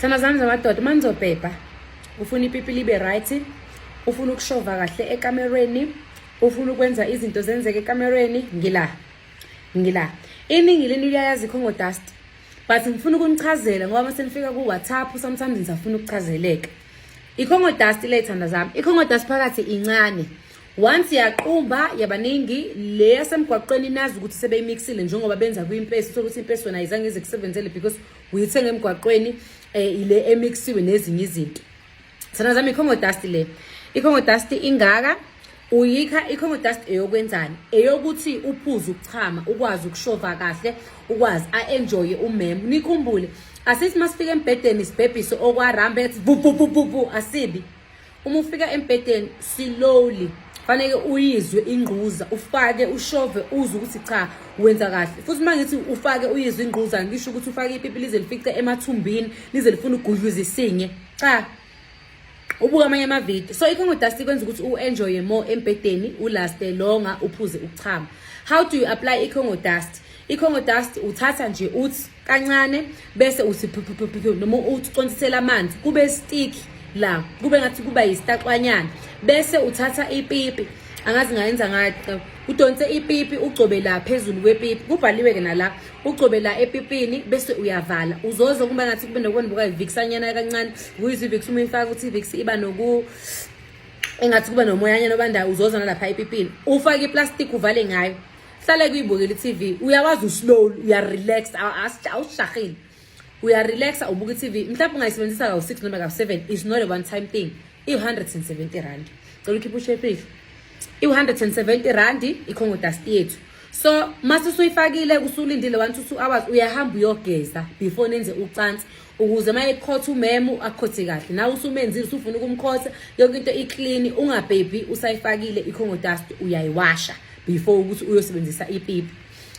thana zami zamadoda uma nizobhebha ufuna ipipi libe right ufuna ukushova kahle ekamerweni ufuna ukwenza izinto zenzeke ekamerweni ngila ngila iningi lento liyayazi ikhongo dust but ngifuna ukunichazela ngoba uma senifika ku-whatsapp sometimes ngisafuna ukuchazeleka ikhongo dust le thanda zami ikhongo dust phakathi incane Once yaqumba yabaningi le yasemgwaqweni nazi ukuthi sebeyimixile njengoba benza kwimpesi uthola ukuthi impesi wena ayizange ize kusebenzele because uyithenge emgwaqweni eh ile emixiwe nezinye izinto. Sana zami ikhongo dust le. Ikhongo dust ingaka uyikha i-congo dust eyokwenzani eyokuthi uphuze ukuchama ukwazi ukushova kahle ukwazi a-enjoye umem nikhumbule asithi masifika embhedeni sibhebhise okwarambe ethi vuvuvuvuvu asibi uma ufika embhedeni slowly faneke uyizwe ingquza ufake ushove uzwe ukuthi cha wenza kahle futhi uma ngithi ufake uyizwe ingquza ngisho ukuthi ufake ipipi lize lifice emathumbini lize lifuna ugudluza isinye cha ubuka amanye amavidiyo so ikhongo dust ikwenza ukuthi u-enjoye more embhedeni ulaste longa uphuze ukuchama how do you apply ikhongo dust I-Congo dust uthatha nje uthi kancane bese uthi noma uthi ucontisela amanzi kube stick la kube ngathi kuba yisitaxwanyana bese uthatha ipipi angazi ngayenza ngathi udonse ipipi ugcobe la phezulu kwepipi kubhaliwe ke nala ugcobe la epipini bese uyavala uzoze kuba ngathi kube nokubona buka iviksanyana kancane kuyizwe ivix uma ifaka ukuthi ivix iba noku engathi kuba nomoyanyana obandayo uzozana lapha epipini ufake iplastic uvale ngayo hlale kuyibukela i-tv uyakwazi uslow uyarelax awushahile uyarelaxa ubuka i-tv mhlawumbe ungayisebenzisa kawu-six noma kawu-seven is not a one time thing iwu-hundred and seventy randi cela ukhiphe ushepile iwu-hundred and seventy randi ikhongodasti yethu so mase usuyifakile usulindile one to two hours uyahamba uyogeza before nenze ucansi ukuze uma ekhotha umemu akhothe kahle nawe usumenzile usufuna ukumkhotha yonke into iclean ungabhebhi usayifakile icongo dust uyayiwasha before ukuthi uyosebenzisa ipipi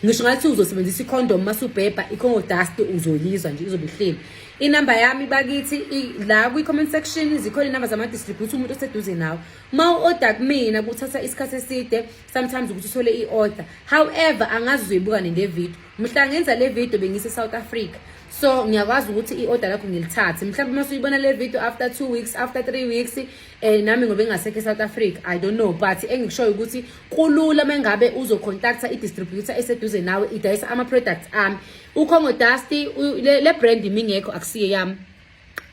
ngisho ngathi uzosebenzisa icondom uma subhebha icongo dust uzoyizwa nje izobe ihleli inamba yami bakithi la kwi-comment section zikhona inamba zama-distribute umuntu oseduze nawo uma u-order kumina kuthatha isikhathi eside sometimes ukuthi uthole i-order however angazi uzoyibuka nende video mhla ngenza le video bengise South Africa so ngiyakwazi ukuthi i-order lakho ngilithathe mhlawumbe uma suyibona le video after two weeks after three weeks eh nami ngobe ngasekho e-south africa i don't know but engikushoyo ukuthi kulula uma ngabe uzocontacta i-distributor eseduze nawe idayisa ama-products ami ukhongo dusty le brand mingekho akusiye yami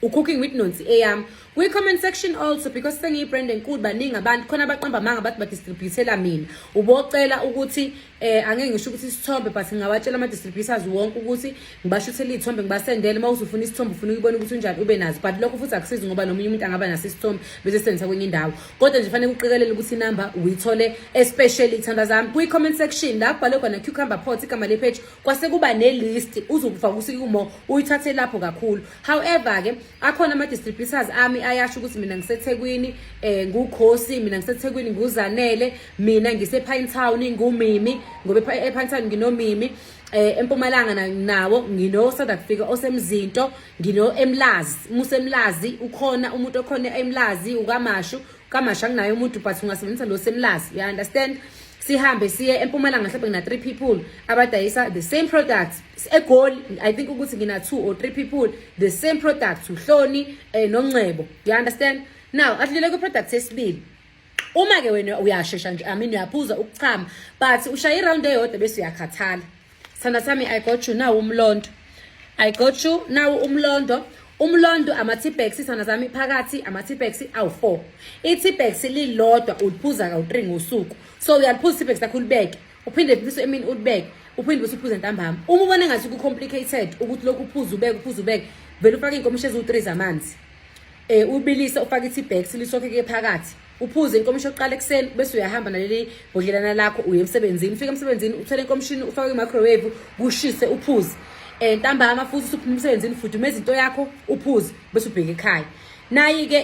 ucooking with nonsi eyami kwi-comment section also because sengiyi-brand enkulu baningi abantu khona abaqamba amanga bathi badistributela mina ubocela ukuthi eh angeke ngisho ukuthi isithombe but ngingawatshela ama-distributors wonke ukuthi ngibashuthela iy'thombe ngibasendele uma uzufuna isithombe ufuna ukubona ukuthi unjani ube nazo but lokho futhi akusizi ngoba nomunye umuntu angaba naso isithombe bese sendisa kwenye indawo kodwa nje fanele kuqikelele ukuthi inamba uyithole especially iy'thanda zami kwi-comment section la kubhalwe khona cucumber pot igama lepage kwase kuba nelist uzokufa kusikumo uyithathe lapho kakhulu however ke akhona ama distributors ami ayasho ukuthi mina ngiseThekwini eh ngukhosi mina ngiseThekwini nguzanele mina ngise Pine Town ngumimi ngoba e Pine Town nginomimi eh empumalanga nawo ngino South Africa osemzinto ngino emlazi musemlazi ukhona umuntu okhona emlazi ukamashu kamasha kunaye umuntu but ungasebenzisa lo semlazi you understand sihambe siye empumalanga mhlawumbe ngina three people abadayisa the same products egoli i think ukuthi ngina two or three people the same products uhloni eh, nongcebo you understand now adlule kwi-product esibili uma-ke wena uyashesha nje i mean uyaphuza ukuchama but ushaye iround eyodwa bese uyakhathala Sithanda sami I got you nawu umlondo. I got you nawu umlondo. Umlondo ama-T-Bags sithanda sami phakathi ama-T-Bags awu-4. I-T-Bags lilodwa uliphuza kawu-3 ngosuku. So uyaliphuza i-T-Bags lakho ulibeke. Uphinde bese emini ulibeke. Uphinde bese uphuza ntambama. Uma ubona ngathi ku complicated ukuthi lokhu uphuza ubeke uphuza ubeke vele ufake inkomishi eziwu-3 zamanzi. Eh ubilise ufake i-T-Bags lisokhe ke phakathi. uphuze inkomishi yokuqala ekuseni bese uyahamba naleli bhodlelana lakho uye emsebenzini ufike emsebenzini uthole inkomishini ufake kwi-microwave kushise uphuze um ntambama futhi usuphuma emsebenzini fudumeza into yakho uphuze bese ubheke ekhaya nayi-ke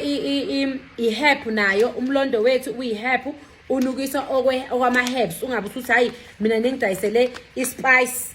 i-hep nayo umlondo wethu uyi-hep unukisa okwama-herbs ungabe usuthi hhayi mina nengidayisele i-spice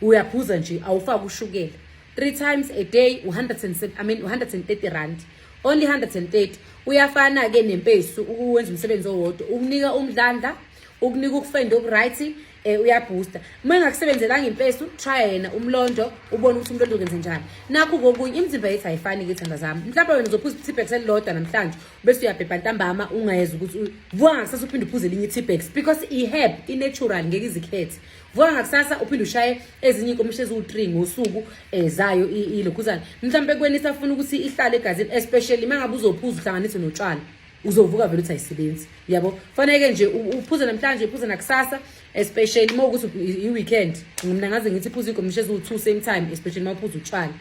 uyaphuza nje awufaki ushukela three times a day u-130 I mean, 130 rand only 130 uyafana-ke nempesu ukuwenza umsebenzi owodwa ukunika umdlandla ukunika ukufenda okuright um eh, uyabhusta uma engakusebenzelanga impesu trya yena umlondo ubone ukuthi umlondo ukenze njani nakho kokunye imizimba yethu ayifani-ke thanda zami mhlawumbe wena uzophuza i-tipex elilodwa namhlanje ubese uyabhebha ntambama ungayeza ukuthi vwa kusase uphinde uphuze elinye i-tipex because i-herb i-natural ngeke izikhethe vuka ngakusasa uphinde ushaye ezinye inkomishi eziwu-three ngosuku um zayo ilokhuzane mhlawumpe kweni isafuna ukuthi ihlale egazini especially uma ngabe uzophuza uhlanganise notshwala uzovuka vele uthi ayisebenzi yabo kufaneke nje uphuze namhlanje uphuze nakusasa especially uma ukuthi i-weekend mina ngaze ngithi phuza igomisha eziwu-two same time especially uma uphuza utshwala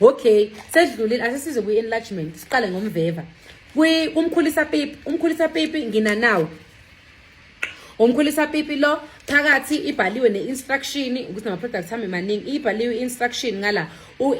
okay sedlulile asesize kwi-enlargement siqale ngomveva umkhulisa pipi umkhulisa pipi nginanawo Umkhulisa pipi lo phakathi ibhaliwe ne-instruction ukuthi nama-products hambe maningi ibhaliwe i-instruction ngala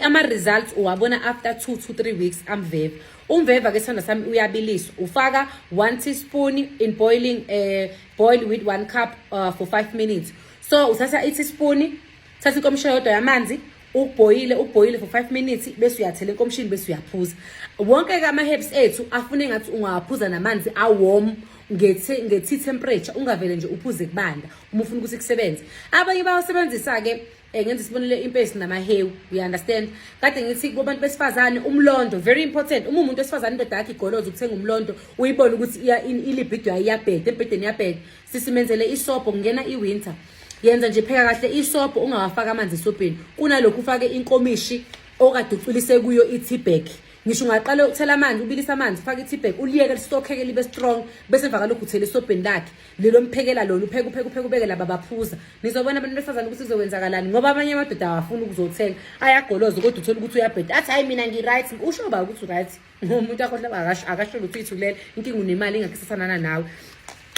ama-results uwabona after two to three weeks amveva umveva ke sithanda sami uyabiliswa ufaka one teaspoon in boiling uh, boil with one cup uh, for five minutes so uthatha i-teaspoon thatha inkomishini yodwa yamanzi ubhoyile ubhoyile for 5 minutes bese uyathela enkomishini bese uyaphuza wonke ke ama-herbs ethu afune ngathi ungawaphuza namanzi awom ngethi ngethi temperature ungavele nje uphuze kubanda uma ufuna ukuthi kusebenze abanye bawasebenzisa ke eh, ngenza isibonelo impesi namahewu you understand kade ngithi kubantu besifazane umlondo very important uma umuntu wesifazane indoda yakhe igoloza ukuthenga umlondo uyibone ukuthi ilibhido yayo iyabheda embhedeni iyabheda sisimenzele isobho kungena iwinter yenza nje pheka kahle isobho ungawafaki amanzi esobheni kunalokhu ufake inkomishi okade uculise kuyo i-tbag ngisho ungaqala ukuthela amanzi ubilisa amanzi ufake i-tbag uliyeke listokheke libe strong bese emva kalokhu uthela esobheni lakhe lelo mphekela lona upheke upheke upheke ubeke laba baphuza nizobona abantu besifazane ukuthi kuzokwenzakalani ngoba abanye amadoda awafuni ukuzothenga ayagoloza kodwa uthole ukuthi uyabheda athi hhayi mina ngi-right usho ba ukuthi u-right umuntu akhohle akasho akasho lutho ithulele inkinga unemali ingakho isafanana nawe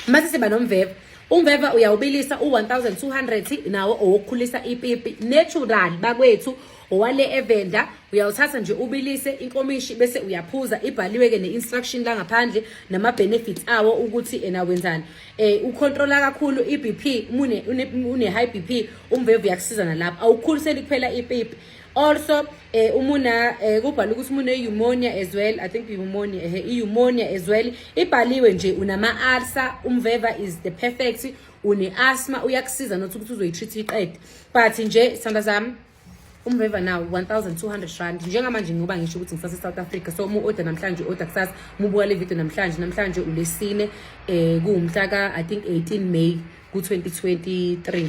mase siba nomveva umveva uyawubilisa u1200 nawo owokukhulisa ipipi natural bakwethu owale evenda uyawuthatha nje ubilise inkomishi bese uyaphuza ibhaliwe ke neinstruction la ngaphandle nama benefits awo ukuthi ena wenzani eh ucontrola kakhulu iBP une une high BP umvevu uyakusiza nalapha awukhuliseli kuphela ipipi also eh umuna eh kubhala ukuthi umune pneumonia as well i think pneumonia eh pneumonia as well ibhaliwe nje unama ulcer umveva is the perfect une asthma uyakusiza nothi ukuthi uzoyitreat iqede but nje sanda zami umveva nawo 1200 rand njengamanje ngoba ngisho ukuthi ngisase South Africa so mu order namhlanje order kusasa mubuka le video namhlanje namhlanje ulesine eh kuwumhla ka i think 18 May ku 2023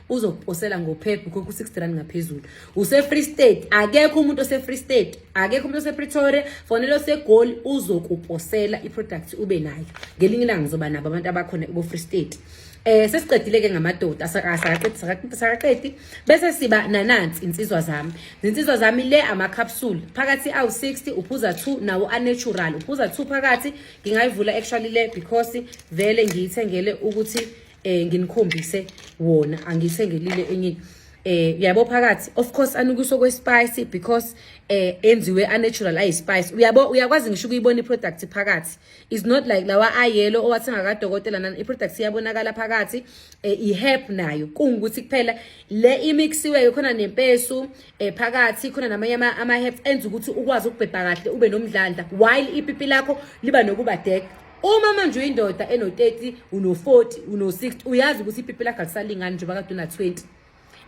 uzokuposela ngophepha ukhokha u-60 rand ngaphezulu use-free state akekho umuntu ose-free state akekho umuntu osepretoria fonela osegoli uzokuposela i-product ube nayo ngelinye ilanga ngizoba nabo abantu abakhona kubo-free state eh sesiqedile ke ngamadoda sakaqedi sakaqedi bese siba nanansi insizwa zami insizwa zami le ama capsule phakathi awu 60 uphuza 2 nawo a natural uphuza 2 phakathi ngingayivula actually le because vele ngiyithengele ukuthi eh nginikhombise wona angisengelile enye eh uyabo phakathi of course anukiso kwe spice because eh enziwe a natural ayi spice uyabo uyakwazi ngisho ukuyibona i product phakathi is not like lawa a yellow owathenga ka dokotela nana i product iyabonakala phakathi eh i herb nayo kungukuthi kuphela le imixiwe khona nempesu eh phakathi khona namanye ama, ama herbs enza ukuthi ukwazi ukubhebha kahle ube nomdlandla while ipipi lakho liba nokuba deck Uma manje uyindoda eno 30 uno 40 uno 60 uyazi ukuthi ipipi lakhe alisalingani njengoba kade una 20.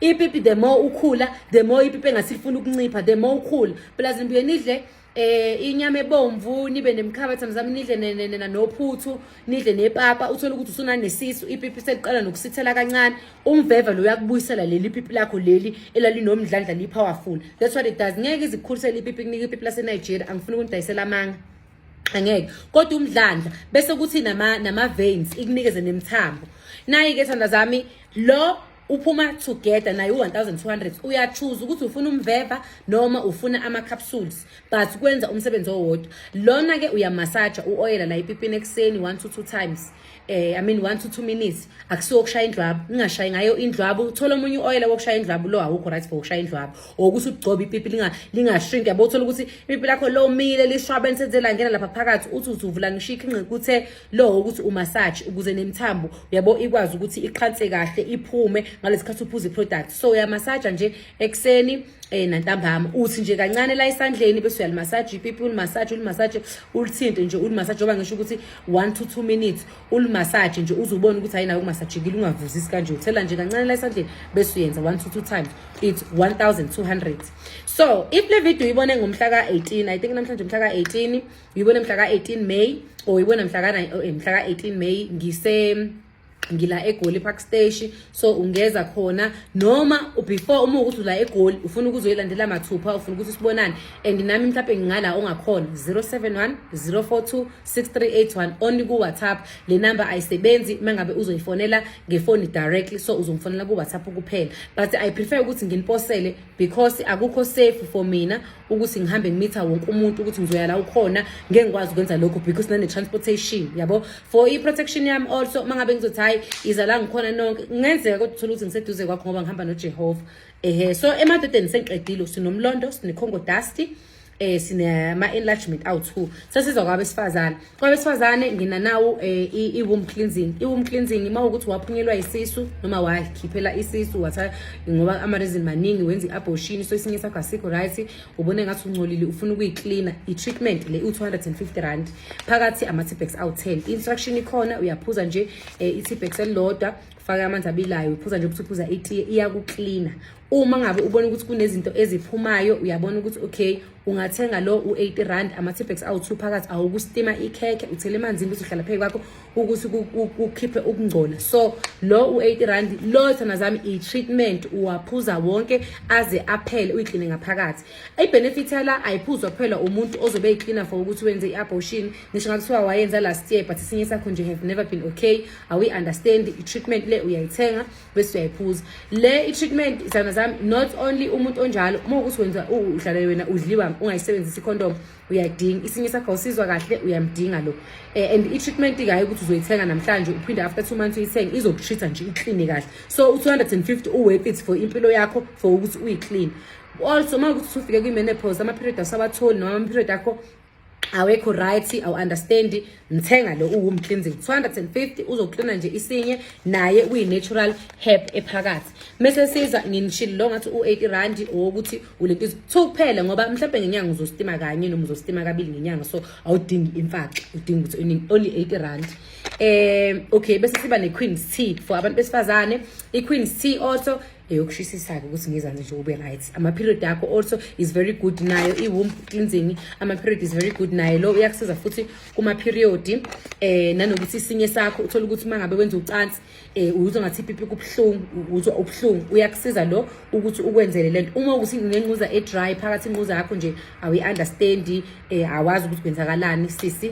Ipipi the more ukhula the more ipipi engasifuna ukuncipha the more ukhula. Plus nibuye nidle eh inyama ebomvu nibe nemkhaba thamzami nidle nena nophuthu nidle nepapa uthole ukuthi usuna nesisu ipipi seliqala nokusithela kancane umveva lo uyakubuyisela leli pipi lakho leli elalinomdlandla lipowerful that's what it does ngeke izikhulisele ipipi kunike ipipi lase Nigeria angifuni ukundayisela amanga angeke kodwa umdlandla bese kuthi nama nama veins ikunikeze nemthambo nayi ke thanda zami lo uphuma together naye u-1200 uyachuza ukuthi ufuna umveva noma ufuna ama-capsules but kwenza umsebenzi owodwa lona-ke uyamasaja u-oyela la ipipini ekuseni one to two times eh i mean 1 to 2 minutes akusiwo ukushaya indlwabu ningashayi ngayo indlwabu uthola omunye uoil wokushaya indlwabu lo awukho right for ukushaya indlwabu okuthi ugcobe ipipi linga linga shrink yabo uthola ukuthi ipipi lakho lo mile lishwabe nsenzela ngena lapha phakathi uthi uthi uvula ngisho ikhinqe kuthe lo ukuthi umassage ukuze nemthambo yabo ikwazi ukuthi iqhanse kahle iphume ngalesikhathi uphuza iproduct so uya massage nje ekuseni eh nantambama uthi nje kancane la isandleni bese uyalimassage ipipi ulimassage ulimassage ulithinte nje ulimassage ngoba ngisho ukuthi 1 to 2 minutes ulimassage nje uzubona ukuthi ayinayo ukumassagekile ungavuzisi kanje uthela nje kancane la isandleni bese uyenza 1 to 2 times it's 1200 so if le video uyibone ngomhla ka 18 i think namhlanje umhla ka 18 uyibone mhla ka 18 May or uyibone mhla ka eh, mhla ka 18 May ngise ngila egoli park station so ungeza khona noma before uma ukuthi ula egoli ufuna ukuzoyilandela mathupha ufuna ukuthi sibonane and nami mhlawumbe ngingala ongakhona 071 042 6381 only ku-whatsapp le number ayisebenzi uma ngabe uzoyifonela ngefoni directly so uzongifonela ku-whatsapp kuphela but i prefer ukuthi nginiposele because akukho safe for mina ukuthi ngihambe ngimitha wonke umuntu ukuthi ngizoya la ukhona ngeke ngikwazi ukwenza lokho because nane transportation yabo for i protection yami also uma ngabe ngizothi hayi iza la ngikhona nonke kungenzeka kodwa uthola ukuthi ngiseduze kwakho ngoba ngihamba noJehova ehe so emadodeni sengiqedile sinomlondo sinekhongo dusty eh sinama enlargement awu2 sesizwa kwabesifazana Kwabesifazane ngina nawo eh, i-womb cleansing. I-womb cleansing uma ukuthi waphunyelwa isisu noma wakhiphela isisu watha ngoba ama-reason maningi wenza i-abortion so isinye sakho asikho right ubone ngathi ungcolile ufuna ukuyiklina i-treatment le u-250 rand phakathi ama-tipex awu-10 i-instruction ikhona uyaphuza nje um eh, i-tipex elilodwa faka amanzi abilayo uphuza nje ukuthi uphuza itiye iyakuklina uma ngabe ubona ukuthi kunezinto eziphumayo uyabona ukuthi okay ungathenga lo u-80 rand ama-tipex awu-two phakathi awukustima ikhekhe uthele emanzini ukuthi uhlala phezu kwakho ukuthi kukhiphe ukungcola so lo u-80 rand lo thana zami i-treatment uwaphuza wonke aze aphele uyikline ngaphakathi i-benefit yala ayiphuzwa kuphela umuntu ozobe eyiklina for ukuthi wenze i-abortion ngisho ngakuthiwa wayenza last year but isinye sakho nje have never been okay awi-understand i-treatment le uyayithenga bese uyayiphuza le i-treatment isana zami not only umuntu onjalo uma ukuthi wenza udlale wena udliwa ungayisebenzisi icondom uyayidinga isinye sakho awusizwa kahle uyamdinga lo eh, and i-treatment kaye ukuthi uzoyithenga namhlanje uphinde after two months uyithenge izokutreat-a nje ikline kahle so u-250 uworth it for impilo yakho for ukuthi uyiclean also uma ukuthi usufike kwi-menopause ama-period asawatholi noma ama-period akho awekho right awu-understand ngithenga lo uwom cleansing 250 uzoklina nje isinye naye kuyi-natural herb ephakathi mese siza nginishile lo ngathi u-80 randi owokuthi ulentizo two kuphela ngoba mhlawumbe ngenyanga uzositima kanye noma uzositima kabili ngenyanga so awudingi imfaxa udinga ukuthi uningi only 80 randi um okay bese siba ne-queens tea for abantu besifazane i-queens tea also eyokushisisa-ke ukuthi ngizani nje ube right ama-period akho also is very good nayo i-womb cleansing ama-period is very good naye lo uyakusiza futhi kuma-period eh nanokuthi isinye sakho uthole ukuthi uma ngabe wenza ucansi eh uzwa ngathi ipipi kubuhlungu uzwa ubuhlungu uyakusiza lo ukuthi ukwenzele lento uma ukuthi ngenquza e-dry phakathi inquza yakho nje awu-understandi um eh, awazi ukuthi kwenzakalani sisi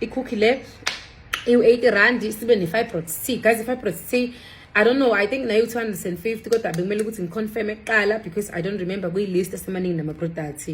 ikhukhi le iwu-80 rand sibe ne-fibroid c guys i-fibroid c I don't know I think nayo 250 kodwa bekumele ukuthi ngiconfirme kuqala because I don't remember kwi list esemaningi nama products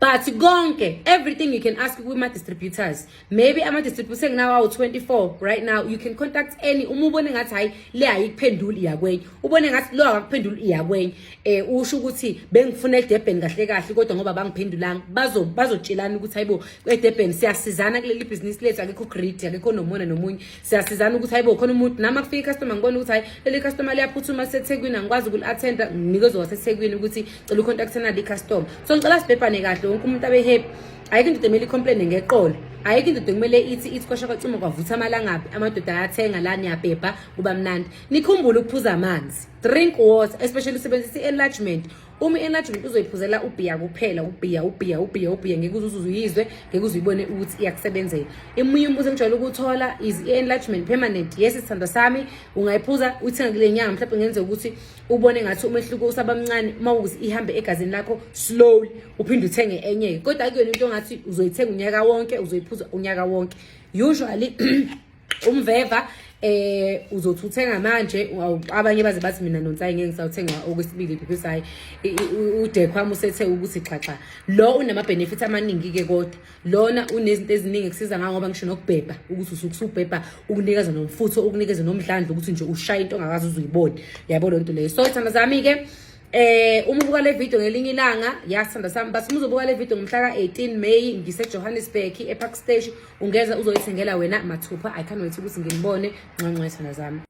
but konke everything you can ask with my distributors maybe ama distributors enginawo awu 24 right now you can contact any uma ubone ngathi hayi le ayikuphenduli yakwenye ubone ngathi lo akakuphendula iyakwenye eh usho ukuthi bengifuna eDurban kahle kahle kodwa ngoba bangiphendulanga bazo bazotshelana ukuthi hayibo eDurban siyasizana kuleli business lethu akekho great akekho nomona nomunye siyasizana ukuthi hayibo khona umuntu nami akufika customer ngibona ukuthi hayi leli customer liyaphuthuma seThekwini angikwazi ukul attend nginikezwe waseThekwini ukuthi cela ucontact nali customer so ngicela sibhebhane kahle wonke umuntu abe happy ayikho indoda emele icomplaine ngeqolo ayikho indoda kumele ithi ithi kwasha kwacima kwavutha amalangabi amadoda ayathenga la niyabhebha kuba mnandi Nikhumbule ukuphuza amanzi. Drink water, especially usebenzisa i-enlargement. Uma i-enlargement uzoyiphuzela ubhiya kuphela, ubhiya, ubhiya, ubhiya, ubhiya ngeke uze uzuyizwe, ngeke uze uyibone ukuthi iyakusebenzela. Emunye umbuzo engijwayele ukuthola is i-enlargement permanent. Yes, isithandwa sami ungayiphuza uyithenga kule nyanga mhlawumbe kungenzeka ukuthi ubone ngathi umehluko usaba mncane uma ukuthi ihambe egazini lakho slowly uphinde uthenge enye. Kodwa akuyona into ngathi uzoyithenga unyaka wonke, uzoyiphuza unyaka wonke. Usually umveva eh uzothi uthenga manje abanye baze bathi mina nonsayi ngeke ngisawuthenga okwesibili because hayi udekhwami usethe ukuthi xaxa lo unama benefits amaningi ke kodwa lona unezinto eziningi kusiza ngayo ngoba ngisho nokubhebha ukuthi usukusubhebha ukunikeza nomfutho ukunikeza nomdlandla ukuthi nje ushaya into ongakazi uzuyibone yabo lonto leyo so ithanda zami ke Eh uma ubuka le video ngelinye ilanga yasithanda sami but uma uzobuka le video ngomhla ka-18 May ngiseJohannesburg ePark Station ungeza uzoyithengela wena mathupha I can't wait ukuthi ngilibone ncancwethana zami